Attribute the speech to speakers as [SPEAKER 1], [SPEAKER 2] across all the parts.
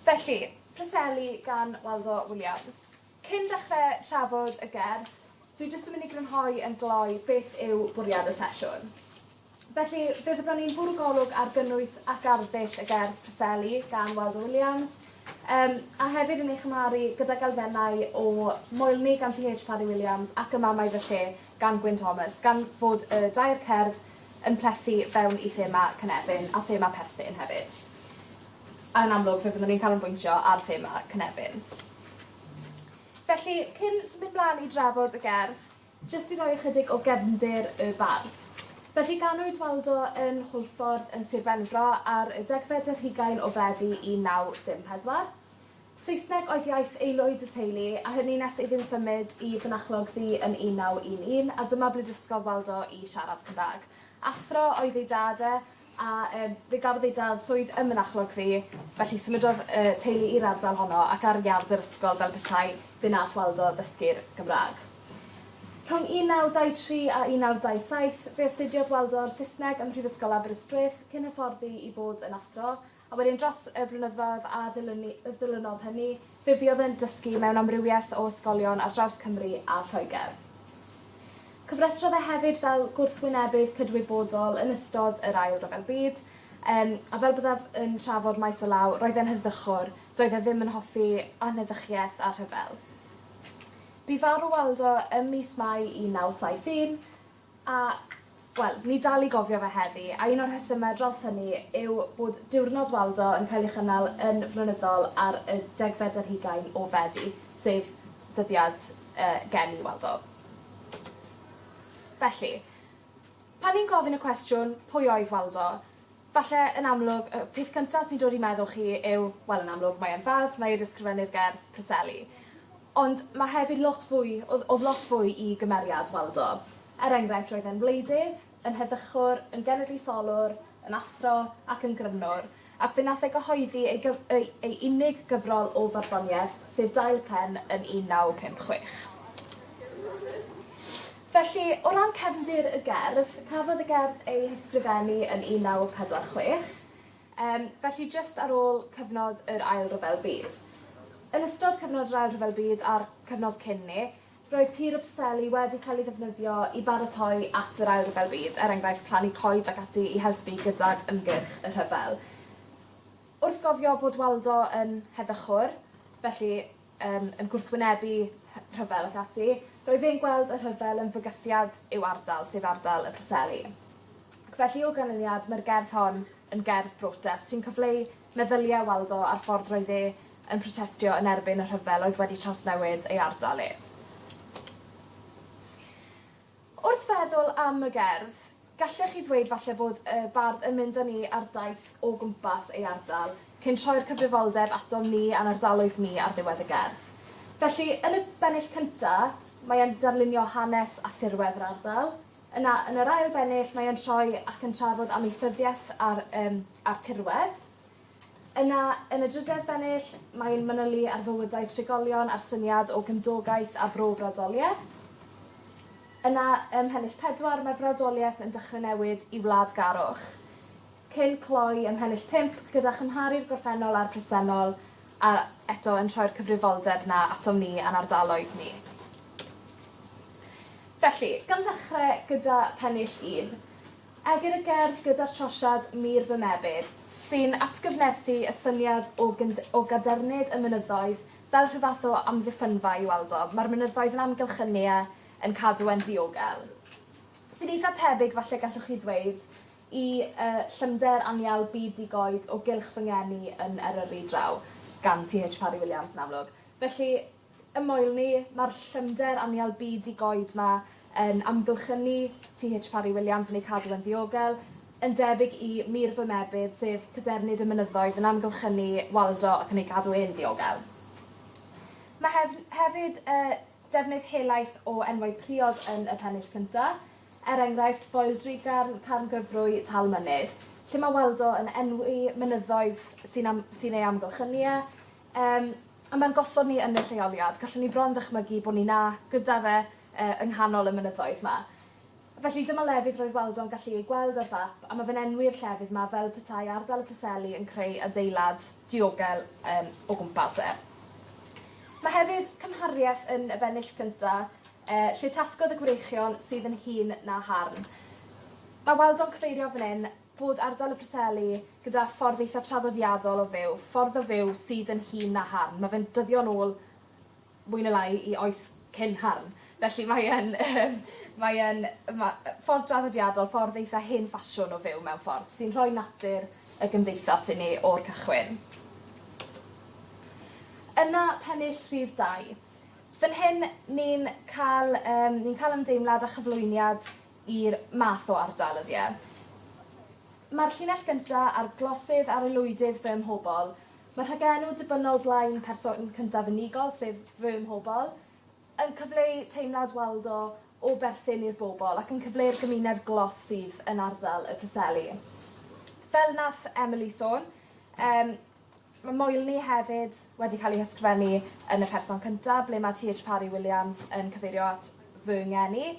[SPEAKER 1] Felly, Preseli gan Waldo Williams. Cyn dechre trafod y gerdd, dwi jyst yn myn' i grynhoi yn gloi beth yw bwriad y sesiwn. Felly, fe fyddwn ni'n bwrw golwg ar gynnwys ac arddull y gerdd Preseli gan Waldo Williams, yym, a hefyd yn ei chymharu gydag elfennau o Moelni gan CH Parry Williams ac Y Mamau Fy Lle gan Gwyn Thomas, gan fod y dair cerdd yn plethu fewn i thema Cynefin a thema perthyn hefyd. Yn amlwg fe fyddwn ni'n canolbwyntio ar thema Cynefin. Felly, cyn symud mlaen i drafod y gerdd, jyst i roi ychydig o gefndir y bardd. Felly, ganwyd Waldo yn Hwlffordd yn Sir Benfro ar y degfed ar hugain o Fedi 1914. Saesneg oedd iaith aelwyd y teulu, a hynny nes iddynt symud i Fynachlog Ddu yn 1911, a dyma ble dysgodd Waldo i siarad Cymraeg. Athro oedd ei dad e, a yym fe gafodd ei dad swydd ym Mynachlog Ddu, felly symudodd y teulu i'r ardal honno, ac ar iard yr ysgol fel petai, fe wnaeth Waldo ddysgu'r Gymraeg. Rhwng 1923 a 1927, fe astudiodd Waldo Saesneg ym Mhrifysgol Aberystwyth, cyn hyfforddi i fod yn athro, A wedyn dros y blynyddoedd a ddilynnu- yy ddilynodd hynny, fe fuodd yn dysgu mewn amrywiaeth o ysgolion ar draws Cymru a Lloegr. Cofrestrodd e hefyd fel gwrthwynebydd cydwybodol yn ystod yr Ail Ryfel Byd, yym, a fel byddaf yn trafod maes o law, roedd e'n heddychwr, doedd e ddim yn hoffi anheddychiaeth a rhyfel. Bu farw Waldo ym mis Mai 1971. Ac, wel, ni dal i gofio fe heddi, a un o'r rhesymau draws hynny yw bod Diwrnod Waldo yn cael ei chynnal yn flynyddol ar y degfed ar hugain o Fedi, sef dyddiad y geni Waldo. Felly, pan ni'n gofyn y cwestiwn, pwy oedd Waldo? Falle, yn amlwg, y peth cyntaf sy'n dod i meddwl chi yw, wel, yn amlwg, mae e'n fardd, mae e 'di ysgrifennu'r gerdd Preseli. Ond ma' hefyd lot fwy, o'dd o'dd lot fwy i gymeriad Waldo. Er enghraifft, roedd e'n wleidydd, yn heddychwr, yn genedlaetholwr, yn athro, ac yn grymnwr, ac fe nath e gyhoeddi ei gyf- ei ei unig gyfrol o farddoniaeth, sef Dail Pen yn 1956. Felly, o ran cefndir y gerdd, cafodd y gerdd ei hysgrifennu yn 1946, yym, felly jyst ar ôl cyfnod yr Ail Ryfel Byd. Yn ystod cyfnod yr Ail Ryfel Byd a'r cyfnod cyn 'ny, roedd tir y Preseli wedi cael ei ddefnyddio i baratoi at yr Ail Ryfel Byd, er enghraifft, plannu coed ac ati i helpu gydag ymgyrch y rhyfel. Wrth gofio bod Waldo yn heddychwr, felly, yn yn gwrthwynebu hy- rhyfel ac ati, roedd e'n gweld y rhyfel yn fygythiad i'w ardal, sef ardal y Preseli. Ac felly, o ganlyniad, mae'r gerdd hon yn gerdd brotest, sy'n cyfleu meddyliau Waldo a'r ffordd roedd e yn protestio yn erbyn y rhyfel oedd wedi trawsnewid ei ardal e. Wrth feddwl am y gerdd, gallech chi ddweud falle bod y bardd yn mynd â ni ar daith o gwmpas ei ardal, cyn troi'r cyfrifoldeb atom ni a'n ardaloedd ni ar ddiwedd y gerdd. Felly, yn y bennill cynta', mae e'n darlunio hanes a thirwedd yr ardal. Yna, yn yr ail bennill, mae e'n troi ac yn trafod amaethyddiaeth a'r, yym, a'r tirwedd. Yna, yn y drydedd bennill, mae e'n manylu ar fywydau trigolion a'r syniad o gymdogaeth a bro-brawdoliaeth. Yna, ym mhennill pedwar, mae'r brawdoliaeth yn dechrau newid i wladgarwch, cyn cloi ym mhennill pump gyda chymharu'r gorffennol a'r presennol a, eto, yn troi'r cyfrifoldeb 'na atom ni a'n ardaloedd ni. Felly, gan ddechrau gyda phennill un, Egr y gerdd gyda'r trosiad 'Mur fy Mebyd', sy'n atgyfnerthu y syniad o gyn- o gadernid y mynyddoedd fel rhyw fath o amddiffynfa i Waldo. Mae'r mynyddoedd yn amgylch y Nea yn cadw e'n ddiogel. Sy'n eitha tebyg, falle gallwch chi ddweud, i y llymder anial byd di-goed o gylch fy ngeni yn Eryri draw gan TH Parry Williams yn amlwg. Felly, Ym Moel ni, mae'r llymder anial byd di-goed 'ma yn amgylchynu TH Parry Williams yn ei cadw e'n ddiogel, yn debyg i Mur fy Mebyd, sef cadernid y mynyddoedd yn amgylchynu Waldo ac yn ei gadw e'n ddiogel. Mae hef- hefyd y defnydd helaeth o enwau priod yn y pennill cynta, er enghraifft, Foel Drugarn, Carn Gyfrwy, Tal Mynydd, lle mae Waldo yn enwi mynyddoedd sy'n am- sy'n ei amgylchynu e, Yym, a mae'n gosod ni yn y lleoliad. Gallwn ni bron ddychmygu bod ni 'na, gyda fe, yy, yng nghanol y mynyddoedd 'ma. Felly, dyma lefydd roedd Waldo'n gallu eu gweld ar fap, a mae fe'n enwi'r llefydd 'ma fel petai ardal y Preseli yn creu adeilad diogel, yym, o gwmpas e. Mae hefyd cymhariaeth yn y bennill cynta', yy, lle tasgodd y gwreichion sydd yn hŷn na harn. Mae Waldo'n cyfeirio fan 'yn bod ardal y Preseli, gyda ffordd eitha traddodiadol o fyw, ffordd o fyw sydd yn hŷn na Harn, mae fe'n dyddio'n ôl mwy neu lai i oes cyn Harn, felly mae e'n yym mae e'n ma- ffordd draddodiadol, ffordd eitha hen ffasiwn o fyw mewn ffordd, sy'n rhoi natur y gymdeithas i ni o'r cychwyn. Yna pennill rhif dau. Fan hyn ni'n cael yym ni'n cael ymdeimlad a chyflwyniad i'r math o ardal ydy e. Mae'r llinell gynta a'r glosydd a'r aelwydydd Fy Mhobol. Mae rhagenw dibynnol blaen person cyntaf unigol, sef Fy Mhobol, yn cyfleu teimlad Waldo o berthyn i'r bobl ac yn cyfleu'r gymuned glos sydd yn ardal Y Preseli. Fel nath Emily sôn, yym, Mae Moelni hefyd wedi cael ei hysgrifennu yn y person cyntaf, ble mae TH Parry Williams yn cyfeirio at fy ngeni.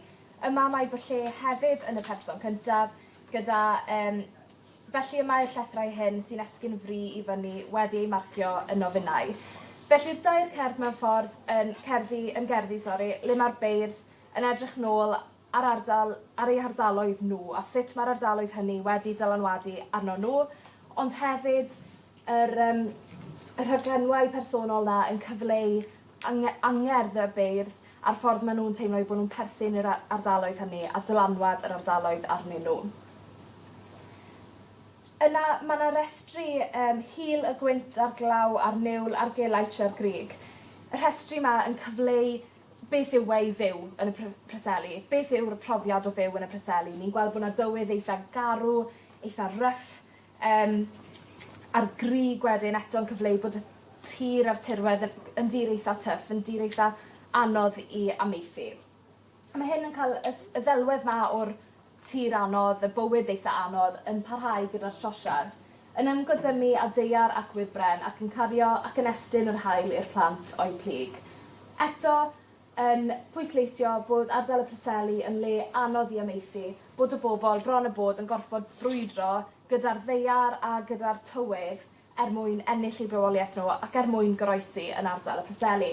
[SPEAKER 1] Yma mae fy lle hefyd yn y person cyntaf, gyda yym. Felly y mae'r llethrau hyn sy'n esgyn fri i fyny wedi eu marcio yn nofynnau. Felly'r dair cerdd mewn ffordd yn cerddi yn gerddi sori le mae'r beirdd yn edrych nôl ar ardal, ar eu hardaloedd nhw a sut mae'r ardaloedd hynny wedi dylanwadu arnon nhw, ond hefyd yr yym y rhaglenwau personol 'na yn cyfleu ange- angerdd y beirdd a'r ffordd ma' nhw'n teimlo eu bod nhw'n perthyn i'r a- ardaloedd hynny a dylanwad yr ardaloedd arnyn nhw. Yna ma' 'na restri yym hil y gwynt a'r glaw a'r niwl a'r gelai tre'r grug. Y rhestri 'ma yn cyfleu Beth yw e i fyw yn y pr- Preseli? Beth yw'r profiad o fyw yn y Preseli? Ni'n gweld bo' 'na dywydd eitha garw, eitha rough yym a'r grug wedyn eto'n cyfleu bod y tir a'r tirwedd yn yn dir eitha tough yn dir eitha anodd i amaethu. A ma' hyn yn ca'l y s- y ddelwedd 'ma o'r Tir anodd, y bywyd eitha anodd, yn parhau gyda'r trosiad. Yn ymgodymu â daear ac wybren, ac yn cario ac yn estyn yr haul i'r plant o'u plyg. Eto, yn pwysleisio bod ardal y Preseli yn le anodd i amaethu, bod y bobl bron a bod yn gorfod brwydro gyda'r ddaear a gyda'r tywydd er mwyn ennill eu bywoliaeth nhw ac er mwyn goroesi yn ardal y Preseli.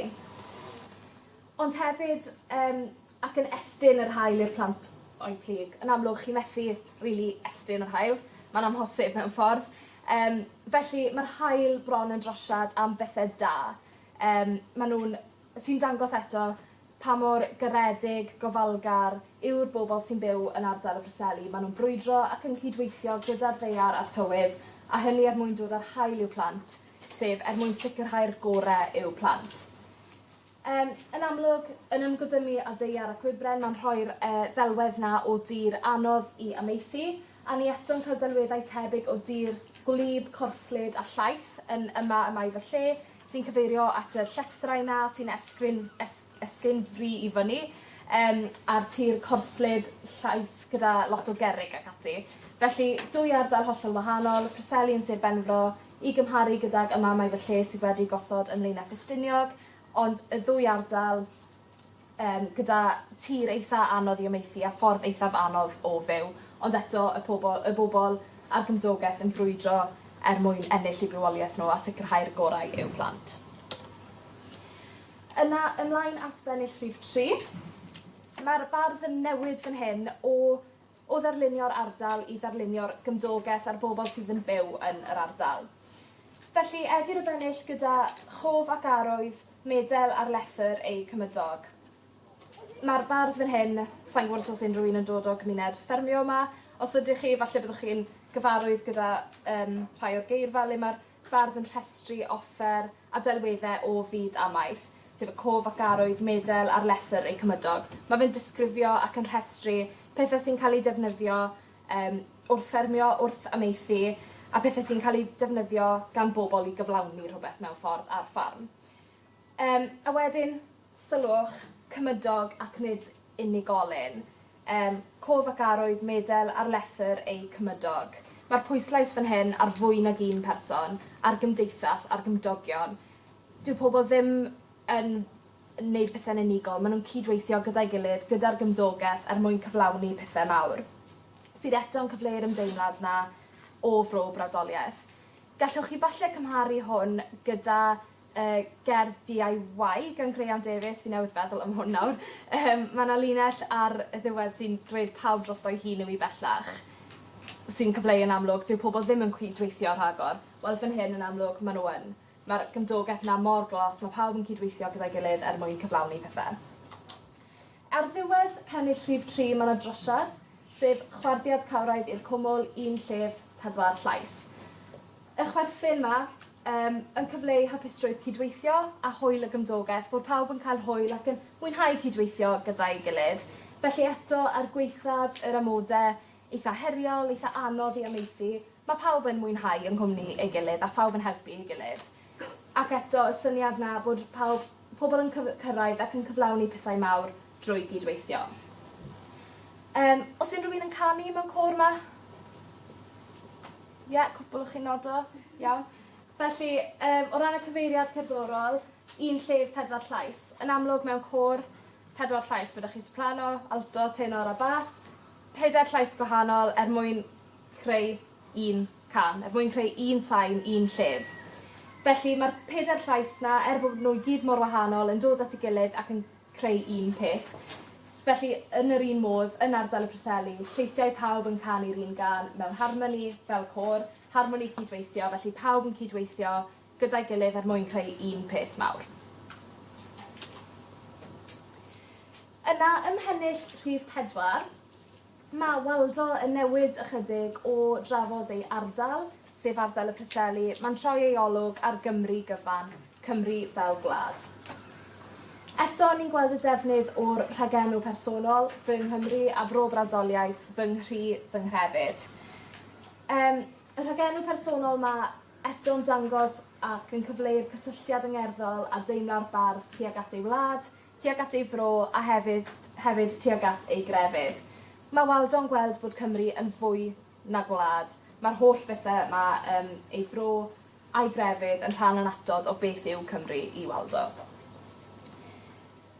[SPEAKER 1] Ond hefyd yym ac yn estyn yr haul i'r plant o'u plug. Yn amlwg chi methu rili estyn yr haul, ma'n amhosib mewn ffordd. Yym felly ma'r haul bron yn drosiad am bethe da. Yym ma' nw'n sy'n dangos eto pa mor garedig, gofalgar yw'r bobol sy'n byw yn ardal y Preseli. Ma' nw'n brwydro ac yn cydweithio gyda'r ddaear a'r tywydd, a hynny er mwyn dod â'r haul i'w plant, sef er mwyn sicirhau'r gore i'w plant. Yym, yn amlwg, yn ymgodymu â daear a gwybren mae'n rhoi'r yy ddelwedd 'na o dir anodd i amaethu, a ni eto'n cael delweddau tebyg o dir gwlyb, corslyd a llaith yn Yma y Mae Fy Lle sy'n cyfeirio at y llethrau 'na sy'n esgrin es- esgyn fri i fyny yym a'r tir corslyd, llaith gyda lot o gerrig ac ati. Felly, dwy ardal hollol wahanol, Preseli yn Sir Benfro, i gymharu gydag amamau fy lle sydd wedi gosod ym Mlaenau Ffestiniog, ond y ddwy ardal yym gyda tir eitha anodd i amaethu a ffordd eithaf anodd o fyw, ond eto y pobl y bobl a'r gymdogaeth yn brwydro er mwyn ennill eu bywoliaeth nhw a sicrhau'r gorau i'w plant. Yna ymlaen at bennill rhif tri. Mae'r bardd yn newid fan hyn o o ddarlunio'r ardal i ddarlunio'r gymdogaeth a'r bobl sydd yn byw yn yr ardal. Felly, Egur y Bennill gyda chof ac arwydd medel ar lethr eu cymydog. Mae'r bardd fan hyn, sa'n gwybod os oes unrhyw un yn dod o gymuned ffermio yma, os ydych chi, falle byddwch chi'n gyfarwydd gyda um, rhai o'r geirfa le mae'r bardd yn rhestru offer a delweddau o fyd amaeth, sef y cof ac arwydd medel ar lethr eu cymydog. Mae fe'n disgrifio ac yn rhestru pethau sy'n cael eu defnyddio um, wrth ffermio, wrth amaethu, a pethau sy'n cael eu defnyddio gan bobl i gyflawni rhywbeth mewn ffordd ar ffarm. Yym, a wedyn, sylwch, cymydog ac nid unigolyn. Yym, cof ac arwydd medel ar lethr eu cymydog. Mae'r pwyslais fan hyn ar fwy nag un person, ar gymdeithas, ar gymdogion. Dyw pobl ddim yn neud pethe'n unigol, ma' nw'n cyd-weithio gyda'i gilydd, gyda'r gymdogeth er mwyn cyflawni pethe mawr, sydd eto'n cyfleu'r ymdeimlad 'na o fro brawdoliaeth. Gallwch chi falle cymharu hwn gyda y gerdd DIY gan Graean Davies, fi newydd feddwl am hwn nawr. Yym ma' 'na linell ar y ddiwedd sy'n dweud pawb drosto'i hun yw 'i' bellach. Sy'n cyfleu yn amlwg dyw pobol ddim yn cyd-weithio rhagor. Wel fan hyn yn amlwg ma' n'w yn. Ma'r gymdogeth 'na mor glos ma' pawb yn cyd-weithio gyda'i gilydd er mwyn cyflawni pethe. Ar ddiwedd pennill rhif tri ma' 'na drosiad sef chwarddiad cawraidd i'r cwmwl, un llef, pedwar llais. Y chwerthin 'ma Yym, yn cyfleu hapusrwydd cydweithio a hwyl y gymdogaeth, bod pawb yn cael hwyl ac yn mwynhau cydweithio gyda'i gilydd. Felly eto, er gwaethaf yr amode eitha' heriol, eitha' anodd i amaethu, ma' pawb yn mwynhau yng nghwmni ei gilydd a phawb yn helpu ei gilydd. Ac eto, y syniad 'na bod pawb pobl yn cyf- cyrraedd ac yn cyflawni pethau mawr drwy gyd-weithio. Yym, o's unrhyw un yn canu mewn côr 'ma? Ie, cwpwl o chi'n nodo. Iawn. Felly, yym, o ran y cyfeiriad cerddorol, un llef, pedwar llais. Yn amlwg, mewn côr, pedwar llais, ma' 'da chi soprano, alto, tenor a bas. Pedair llais gwahanol er mwyn creu un can, er mwyn creu un sain, un llef. Felly, mae'r pedair llais 'na, er bod nhw i gyd mor wahanol, yn dod at ei gilydd ac yn creu un peth. Felly, yn yr un modd, yn ardal y Preseli, lleisiau pawb yn canu'r un gân, mewn harmoni, fel côr, harmoni cyd-weithio, felly pawb yn cyd-weithio gyda'i gilydd er mwyn creu un peth mawr. Yna, ymhennill rhif pedwar. Mae Waldo yn newid ychydig o drafod ei ardal, sef ardal y Preseli, mae'n troi ei olwg ar Gymru gyfan, Cymru fel gwlad. Eto, ni'n gweld y defnydd o'r rhagenw personol, fy Nghymru, a Bro Brawdoliaeth, fy Nghri, fy Nghrefydd. Um, y rhagenw personol mae eto'n dangos ac yn cyfleu'r cysylltiad yngerddol a deimla'r bardd tuag at ei wlad, tuag at ei fro a hefyd hefyd tuag at ei grefydd. Mae Waldo'n gweld bod Cymru yn fwy na gwlad. Mae'r holl bethe 'ma yn ei fro a'i grefydd yn rhan annatod o beth yw Cymru i Waldo.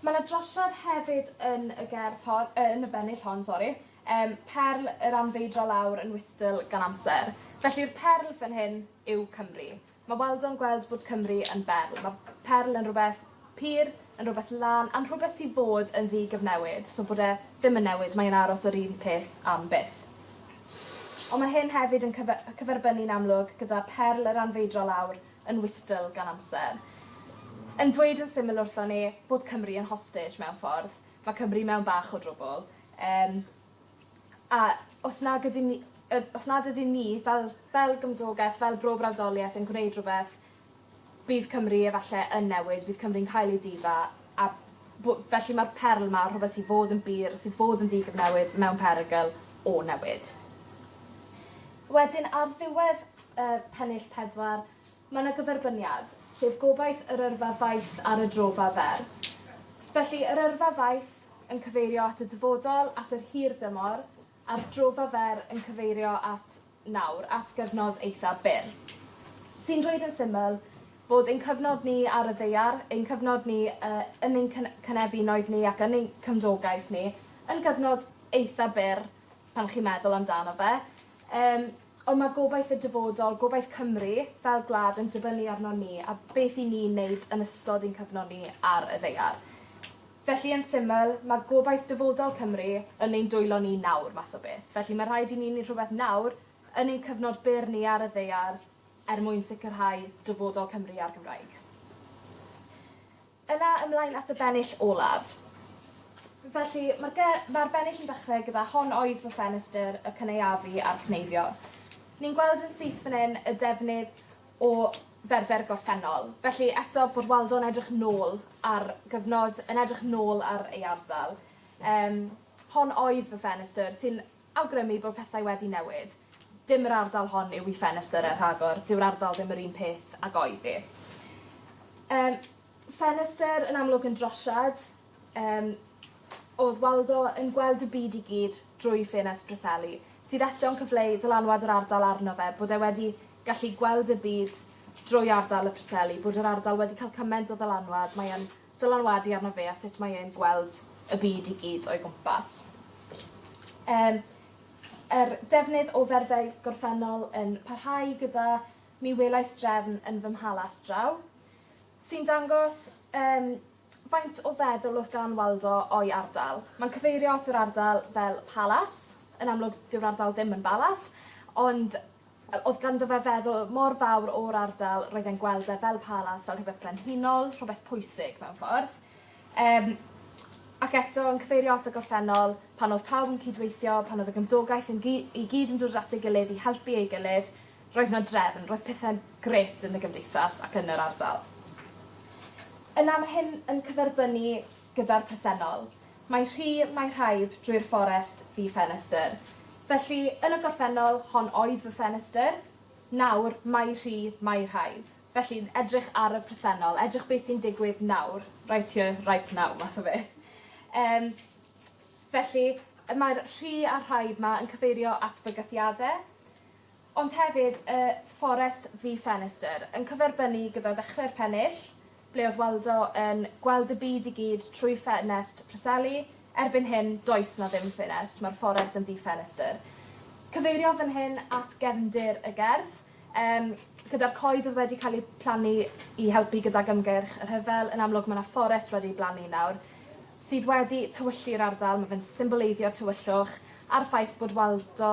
[SPEAKER 1] Mae 'na drosiad hefyd yn y gerdd hon, yy yn y bennill hon sori, yym perl yr anfeidrol awr yn wystl gan amser. Felly'r perl fan hyn yw Cymru. Mae Waldo'n gweld bod Cymru yn berl. Mae perl yn rhywbeth pur, yn rhywbeth lân, am rhywbeth sy'n fod yn ddi-gyfnewid, so bod e ddim yn newid, mae e'n aros yr un peth am byth. Ond mae hyn hefyd yn cyferbynnu'n amlwg gyda perl yr anfeidrol awr yn wystl gan amser. Yn dweud yn syml wrthon ni bod Cymru yn hostage mewn ffordd. Mae Cymru mewn bach o drwbwl. Yym. A os nag ydyn ni yy os nad ydyn ni fel fel gymdogeth fel bro brawdolieth yn gwneud rhwbeth bydd Cymru efalle yn newid bydd Cymru'n cael ei difa a bo- felly ma'r perl 'ma rhwbeth sy fod yn bur sy fod yn ddigyfnewid mewn perygl o newid. Wedyn ar ddiwedd yy pennill pedwar Mae 'na gyferbyniad, sef gobaith yr yrfa faith ar y drofa fer. Felly, yr yrfa faith yn cyfeirio at y dyfodol, at yr hir dymor, a'r drofa fer yn cyfeirio at nawr, at gyfnod eitha' byr. Sy'n dweud yn syml bod ein cyfnod ni ar y ddaear, ein cyfnod ni y- yn ein cyn- cynefinoedd ni ac yn ein cymdogaeth ni, yn gyfnod eitha' byr pan chi'n meddwl amdano fe. Yym, ond mae gobaith y dyfodol, gobaith Cymru fel gwlad yn dibynnu arnon ni a beth i ni'n neud yn ystod ein cyfnod ni ar y ddaear. Felly yn syml, mae gobaith dyfodol Cymru yn ein dwylo ni nawr, math o beth. Felly mae rhaid i ni neud rhywbeth nawr, yn ein cyfnod byr ni ar y ddaear, er mwyn sicrhau dyfodol Cymru a'r Gymraeg. Yna ymlaen at y bennill olaf. Felly, mae'r ge- mae'r bennill yn dechrau gyda 'Hon oedd fy ffenestr, y cynaeafu a'r cneifio'. Ni'n gweld yn syth fan hyn y defnydd o ferfer gorffennol. Felly, eto, bod Waldo'n edrych nôl ar gyfnod, yn edrych nôl ar ei ardal. Yym, 'Hon oedd fy ffenestr', sy'n awgrymu bod pethau wedi newid. Dim yr ardal hon yw i ffenestr er rhagor, dyw'r ardal ddim yr un peth ag oedd hi. Yym, ffenestr yn amlwg yn drosiad, yym, o'dd Waldo yn gweld y byd i gyd drwy ffenest Preseli, sydd eto'n cyfleu dylanwad yr ardal arno fe, bod e wedi gallu gweld y byd drwy ardal y Preseli, bod yr ardal wedi cael cyment o ddylanwad, mae e'n ddylanwadu arno fe a sut mae e'n gweld y byd i gyd o'i gwmpas. Yym, yr defnydd o ferfau gorffennol yn parhau gyda Mi welais drefn yn fy mhalas draw, sy'n dangos yym faint o feddwl o'dd gan Waldo o'i ardal. Mae'n cyfeirio at yr ardal fel palas, yn amlwg dyw'r ardal ddim yn balas, ond Oedd ganddo fe feddwl mor fawr o'r ardal, roedd e'n gweld e fel palas, fel rhywbeth brenhinol, rhywbeth pwysig mewn ffordd. Yym ac eto yn cyfeirio at y gorffennol, pan oedd pawb yn cyd-weithio, pan oedd y gymdogaeth yn gy- i gyd yn dod at ei gilydd i helpu ei gilydd, roedd 'na drefn, roedd pethe'n grêt yn y gymdeithas ac yn yr ardal. Yna ma' hyn yn cyferbynnu gyda'r presennol. Mae rhy mae rhaif drwy'r fforest fi ffenestr. Felly, yn y gorffennol, hon oedd fy ffenestr. Nawr, mae rhy mae rhaif. Felly, edrych ar y presennol, edrych beth sy'n digwydd nawr, right here, right now math o beth. Yym, felly, mae'r rhy a'r rhaif 'ma yn cyfeirio at bygythiade. ond hefyd y Forest Vee Ffenestr, yn cyferbynnu gyda Dechrau'r Pennill, ble oedd Waldo yn gweld y byd i gyd trwy ffenest Preseli, erbyn hyn, does 'na ddim ffenest, mae'r fforest yn ddi-ffenestr. Cyfeirio fan hyn at gefndir y gerdd, yym, gyda'r coed oedd wedi cael eu plannu i helpu gydag ymgyrch y rhyfel, yn amlwg mae 'na fforest wedi ei blannu nawr, sydd wedi tywyllu'r ardal, mae fe'n symboleiddio'r tywyllwch, a'r ffaith bod Waldo,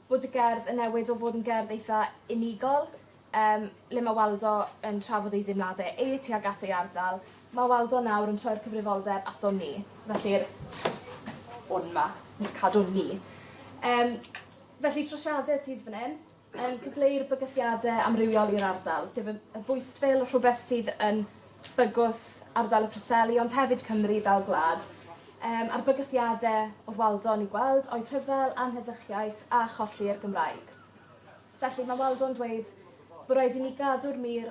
[SPEAKER 1] bod y gerdd yn newid o fod yn gerdd eitha unigol yym le ma' Waldo yn trafod ei deimlade e tuag at ei ardal ma' Waldo nawr yn troi'r cyfrifoldeb aton ni felly'r 'wn' 'ma yn cadw'n ni. Yym felly trosiade sydd fan 'yn yn cyfleu'r bygythiade amrywiol i'r ardal sef y y bwystfil rhwbeth sydd yn bygwth ardal y Preseli ond hefyd Cymru fel gwlad. Yym a'r bygythiade o'dd Waldo yn 'u gweld oedd rhyfel, anheddychiaeth a cholli'r Gymraeg. Felly ma' Waldo'n dweud bo' raid i ni gadw'r mur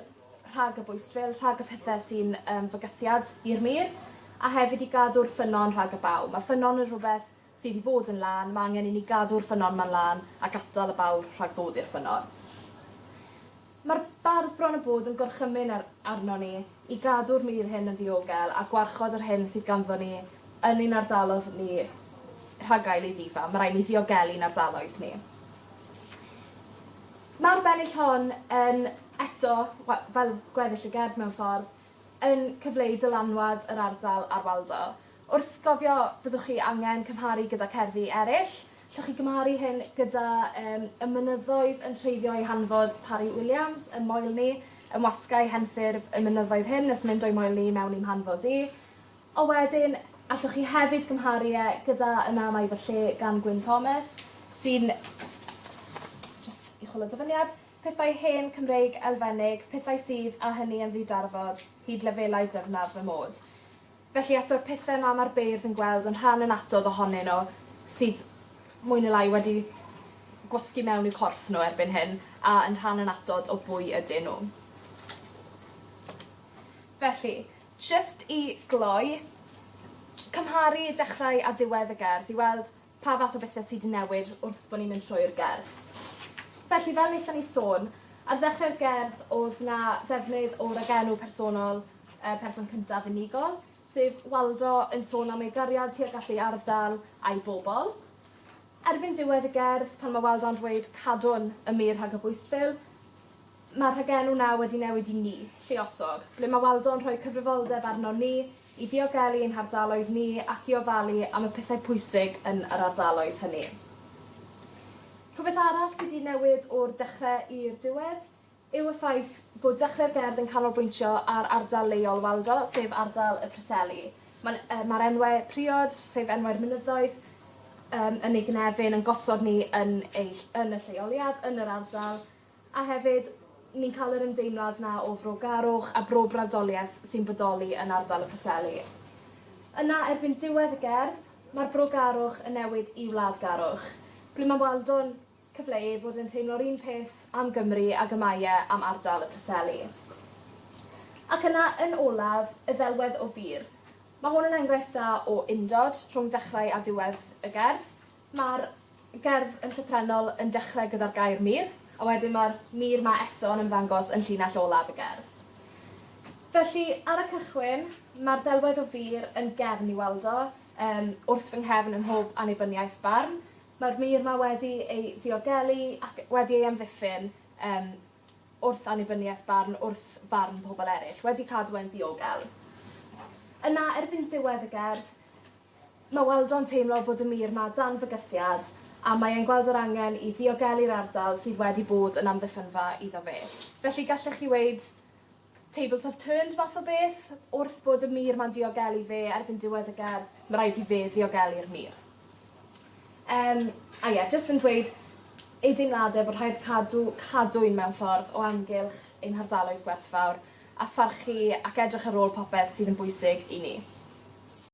[SPEAKER 1] rhag y bwystfil, rhag y pethe sy'n yym fygythiad i'r mur a hefyd i gadw'r ffynnon rhag y baw. Ma' ffynnon yn rhwbeth sydd i fod yn lân, mae angen i ni gadw'r ffynnon ma'n lân a gatal y bawr rhag dod i'r ffynnon. Mae'r bardd bron a bod yn gorchymyn ar arnon ni i gadw'r mur hyn yn ddiogel a gwarchod yr hyn sydd ganddo ni yn ein ardalodd ni rhag gael ei difa. Mae rhaid ni ddiogelu'n ardaloedd ni. Mae'r bennill hon yn eto, wel, fel gweddill y gerdd mewn ffordd, yn cyfleu dylanwad yr ardal ar Waldo. Wrth gofio, byddwch chi angen cymharu gyda cerddi eraill. Llwch chi gymharu hyn gyda um, Y mynyddoedd yn treiddio ei hanfod, Parry Williams, ym moel ni, yn wasgau henffurf y mynyddoedd hyn nes mynd o'i moel ni mewn i'm hanfod i. O wedyn, allwch chi hefyd gymharu e gyda Yna Mae Fy Lle gan Gwyn Thomas, sy'n just i chwilio dyfyniad, pethau hen Cymreig elfennig, pethau sydd, a hynny yn ddidarfod, hyd lefelau dyfnaf fy mod. Felly eto'r pethe 'ma ma'r beirdd yn gweld yn rhan annatodd ohonyn nhw sydd mwy ne' lai wedi gwasgu mewn i'w corff nhw erbyn hyn a yn rhan annatod o bwy ydyn nhw. Felly, jyst i gloi, cymharu dechrau a diwedd y gerdd i weld Pa fath o bethe sy 'di newid wrth bo' ni'n mynd trwy'r gerdd? Felly fel nethon ni sôn ar ddechre'r gerdd o'dd 'na ddefnydd o ragenw personol yy person cyntaf unigol, sef Waldo yn sôn am ei gariad tuag at ei ardal a'i bobol. Erbyn diwedd y gerdd pan ma' Waldo'n dweud cadwn y mur rhag y bwystfil ma'r rhagenw 'na wedi newid i ni, lluosog, ble ma' Waldo'n rhoi cyfrifoldeb arnon ni i ddiogelu ein hardaloedd ni ac i ofalu am y pethau pwysig yn yr ardaloedd hynny. Rhywbeth arall sydd wedi newid o'r dechrau i'r diwedd yw y ffaith bod Dechrau'r Gerdd yn canolbwyntio ar ardal leol Waldo, sef ardal y Preseli. Mae'n, yy, mae'r enwau priod, sef enwau'r mynyddoedd, yym, yn ei gynefin, yn gosod ni yn ei, yn y lleoliad, yn yr ardal, A hefyd, ni'n cael yr ymdeimlad 'na o frogarwch a brobrawdoliaeth sy'n bodoli yn ardal y Preseli. Yna, erbyn diwedd y gerdd, mae'r brogarwch yn newid i wladgarwch, ble mae Waldo'n cyfleu bod e'n teimlo'r un peth am Gymru ag y mae e am ardal y Preseli. Ac yna, yn olaf, y ddelwedd o bur. Mae hwn yn enghraifft dda o undod rhwng dechrau a diwedd y gerdd. Mae'r gerdd yn llythrennol yn dechrau gyda'r gair 'mur', a wedyn mae'r 'mur' 'ma eto yn ymddangos yn llinell olaf y gerdd. Felly, ar y cychwyn, mae'r ddelwedd o fur yn gefn i weld o, yym, wrth fy nghefn ym mhob annibyniaeth barn. Mae'r mur 'ma wedi ei ddiogelu ac wedi ei amddiffyn, yym, wrth annibyniaeth barn, wrth farn pobl eraill, wedi cadw e'n ddiogel. Yna, erbyn diwedd y gerdd, Mae Waldo'n teimlo bod y mur 'ma dan fygythiad a mae e'n gweld yr angen i ddiogelu'r ardal sydd wedi bod yn amddiffynfa iddo fe. Felly gallech chi weud tables have turned math o beth. Wrth bod y mur 'ma'n diogelu fe erbyn diwedd y gerdd, ma' raid i fe ddiogelu'r mur. Yym, a ie, jyst yn dweud ei deimlade bod rhaid cadw cadwyn mewn ffordd o amgylch ein hardaloedd gwerthfawr a pharchu ac edrych ar ôl popeth sydd yn bwysig i ni.